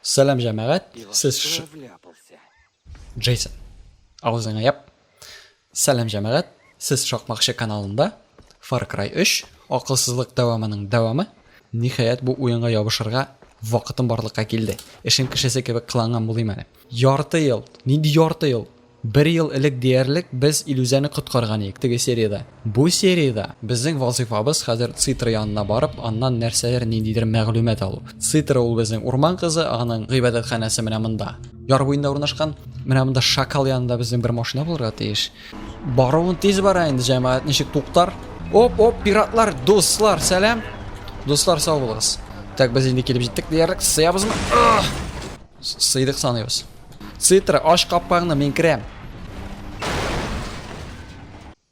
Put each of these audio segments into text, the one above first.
Сәлам җәмәгать, сез ш... Джейсон, авызыңа яп. Сәлам җәмәгать, сез шакмакчы каналында Far Cry 3 акылсызлык дәвамының дәвамы. Ниһаять бу уенга ябышырга вакытым барлыкка килде. Эшем кешесе кебек кыланган булыйм әле. Ярты ел. Нинди ярты ел? Бер ел элек диярлек без Илүзәне коткарган идек теге сериядә. Бу сериядә безнең вазыйфабыз хәзер Цитра янына барып, аннан нәрсәдер, ниндидер мәгълүмат алу. Цитра ул безнең урман кызы, аның гыйбадәтханәсе менә монда. Яр буенда урнашкан. Менә монда шакал янында безнең бер машина булырга тиеш. Баруын тиз бара инде, җәмәгать ничек туктар? Оп, оп, пиратлар, дуслар, сәлам. Дуслар, сау булыгыз. Так, без инде килеп җиттек диярлек. Сыябызмы? Сыйдык саныйбыз. Цитра, ач капкаңны, мин керәм.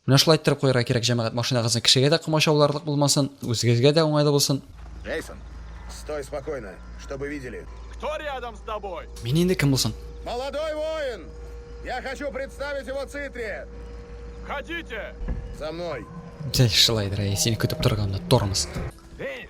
Менә шулай иттереп куярга кирәк, җәмәгать, машинагызны кешегә дә комачауларлык булмасын, үзегезгә дә уңайлы булсын. Джейсон, стой спокойно, чтобы видели. Кто рядом с тобой? Мин инде кем булсын? Молодой воин! Я хочу представить его Цитре! Ходите! За мной! Шулайдыр, әй, сине көтеп торганны, тормоз. Денис,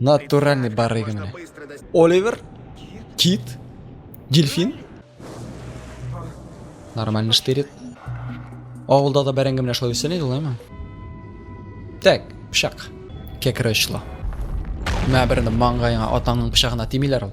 Натуральный барыгы менә. Оливер, кит, дельфин. Нормально штырит. Авылда да бәрәңге менә шулай үсә иде лайма. Так, пышак. Кәкре очлы. Мә берне маңгаеңа атаңның пычагына тимиләр ул.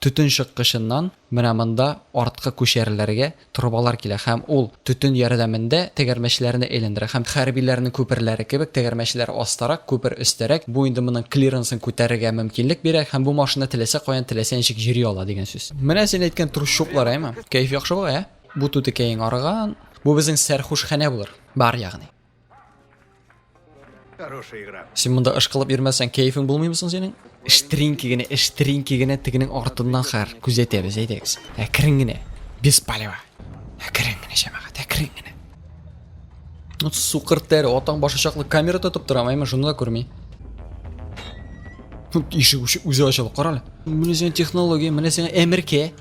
Төтен чыккычыннан менә монда арткы күчәрләргә торбалар килә һәм ул төтен ярдәмендә тәгәрмәчләрне әйләндерә һәм хәрбиләрнең күперләре кебек тәгәрмәчләр астарак, күпер өстәрәк, бу инде моның клиренсын күтәрергә мөмкинлек бирә һәм бу машина теләсә каян, теләсә ничек йөри ала дигән сүз. Менә син әйткән трущоблар, әйме? Кәеф яхшы була, ә? Бу түтекәең арыган, бу безнең сәрхушханә булыр, бар ягъни. Хорошая игра. Син монда ышкылып йөрмәсәң, кәефең булмыймы соң синең? Штринки генә, штринки генә тегенең артыннан хәр күзәтәбез, әйдәгез. Әкрен генә. Без палева. Әкрен генә җәмәгать, әкрен генә. Ну сукыр тәре, атаң башы чаклы камера тотып тора, мәйме шуны да күрми. Ишек үзе ачылып, карале. Менә сиңа технология, менә сиңа әмеркә.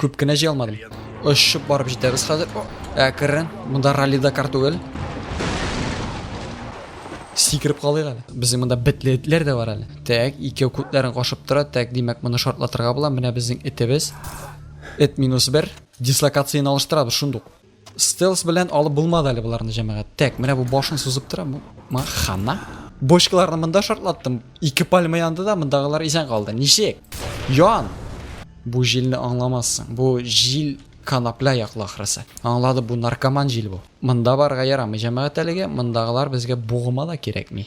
Күп кенә җый алмадым. Очып барып җитәбез хәзер. Әкрен. Монда ралли Дакар түгел. Сикереп калыйк әле. Безнең монда битле этләр дә бар әле. Так, икәү күтләрен кашып тора. Так, димәк, моны шартлатырга була. Менә безнең этебез. Эт минус 1. Дислокацияне алыштырабыз шундук. Стелс белән алып булмады әле боларны җәмәгать. Тәк, менә бу башын сузып тора. Ма хана. Бочкаларны монда шартлаттым. Ике пальма янды да мондагылар исән калды. Ничек? Ян. Бу җилне аңламассың. Бу җил конопля яклы ахрысы. Аңлады, бу наркоман җил бу. Монда барырга ярамый җәмәгать әлегә, мондагылар безгә бугыма да кирәкми.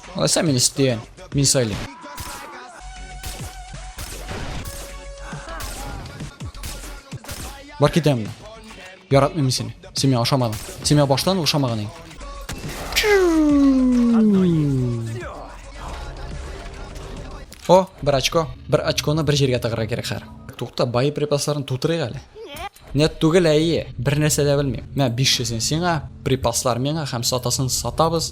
Ой, сами не сте, не сали. Бар китәм. Яратмыйм сине. Син миңа ошамадың. Син миңа баштан ошамаган идең. О, бер очко. Бер очконы бер җиргә тыгырга кирәк хәр. Тукта, бай припасларын тутырыйк әле. Нет түгел әйе, бер нәрсә дә белмим. Мә 500 сиңа, припаслар миңа һәм сатасын сатабыз.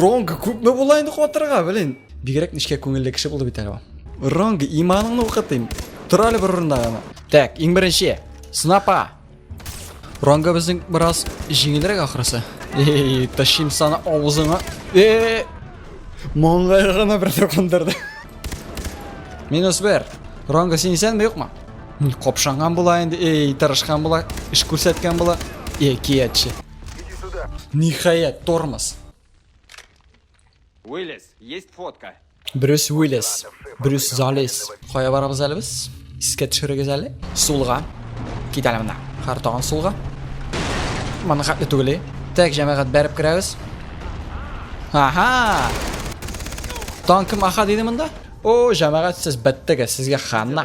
Ронг күпме була инде катырга, блин. Бигрәк нечкә күңелле кеше булды бит әле ул. Ронг, иманыңны укытыйм. Тор әле бер урында гына. Так, иң беренче. Снапа. Ронга безнең бераз җиңелрәк ахрысы. Эй, ташим саны авызыңа. Э! Моңгай гына бер токындырды. Минус бер. Ронга син исәнме, юкмы? Капшанган була инде. Эй, тырышкан була, эш күрсәткән була. Эй, кияче. Иди сюда. Ниһаять, тормоз. Уиллис, есть фотка. Брюс Уиллис, Брюс Залис. Кая барабыз әле без? Искә төшерегез әле. Сулга. Кит әле менә. Хәр тагын сулга. Моны хәтле түгел. Тәк җәмәгать бәреп керәбез. Аха! Танкы маха диде монда? О, җәмәгать сез бәттегез, сезгә ханна.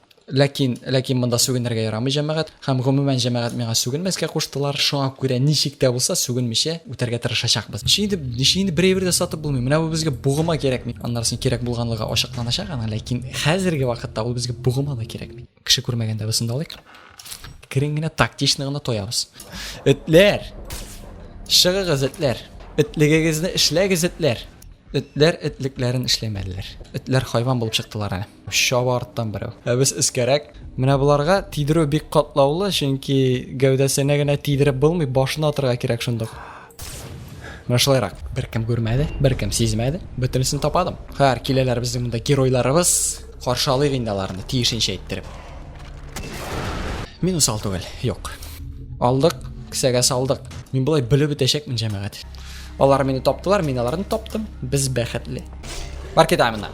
Ләкин, ләкин монда сүгенергә ярамый, җәмәгать, һәм гомумән җәмәгать миңа сүгенмәскә куштылар, шуңа күрә ничек тә булса сүгенмичә үтәргә тырышачакбыз. Ничек инде, ничек инде бер әйбер дә сатып булмый, менә бу безгә бугыма кирәкми. Аннарысын кирәк булганлыгы ачыкланачак аның, ләкин хәзерге вакытта ул безгә бугыма да кирәкми. Кеше күрмәгәндә без шунда алыйк. Керен генә тактично гына тоябыз. Этләр! Чыгыгыз, этләр! Этлегегезне эшләгез, этләр! Этләр этлекләрен эшләмәделәр. Этләр хайван булып чыктылар әле. Чаба арттан берәү. Ә без өскәрәк. Менә боларга тидерү бик катлаулы, чөнки гәүдәсенә генә тидереп булмый, башына атырга кирәк шундук. Менә шулайрак. Беркем күрмәде, беркем сизмәде. Бөтенесен тападым. Хәер, киләләр безнең монда геройларыбыз. Каршы алыйк инде аларны, тиешенчә иттереп. Мин усал түгел. Юк. Алдык, кесәгә салдык. Мин болай белеп үтәчәкмен, җәмәгать. Алар мине таптылар, мин аларны таптым. Без бәхетле. Бар китә моннан.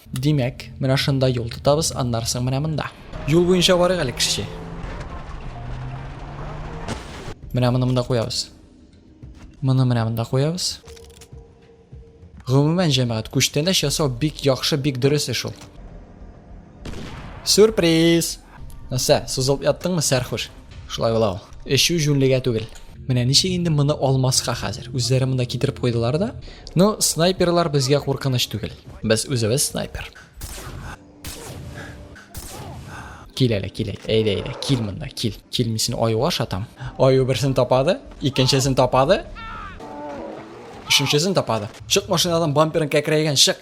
Димәк, менә шунда юл тотабыз, аннары соң менә монда. Юл буенча барыйк әле, кешече. Менә моны монда куябыз. Моны менә монда куябыз. Гомумән, җәмәгать, күчтәнәч ясау бик яхшы, бик дөрес эш ул. Сюрприз! Нәрсә, сузылып яттыңмы, сәрхуш? Шулай була ул. Эчү җүнлегә түгел. Менә ничек инде моны алмаска хәзер? Үзләре монда китереп куйдылар да. Ну, снайперлар безгә куркыныч түгел. Без үзебез снайпер. Кил әле, кил әле. Әйдә, әйдә, кил монда, кил. Кил, мин сине аюга ашатам. Аю берсен тапады, икенчесен тапады. Өченчесен тапады. Чык машинадан бамперын кәкрәйгән, чык.